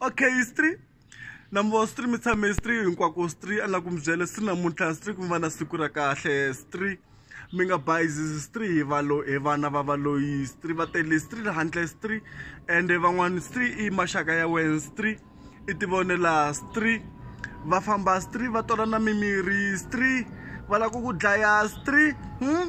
okay history number three mi tshame three hinkwako three a na ku mi byela three namuntlha three ku mi va na siku ra kahle three mi nga bayizisi stri hi valo hi vana va valoyi stri va tele stri ri handle stri ende van'wani stri i maxaka ya wena stri i tivonela stri va famba stri va tolana mimirhi stri va lava ku ku dlaya stri hmm?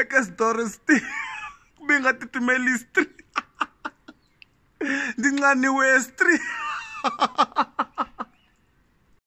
eka switori sti mi nga titimeli stri ndzi nxaniwe stri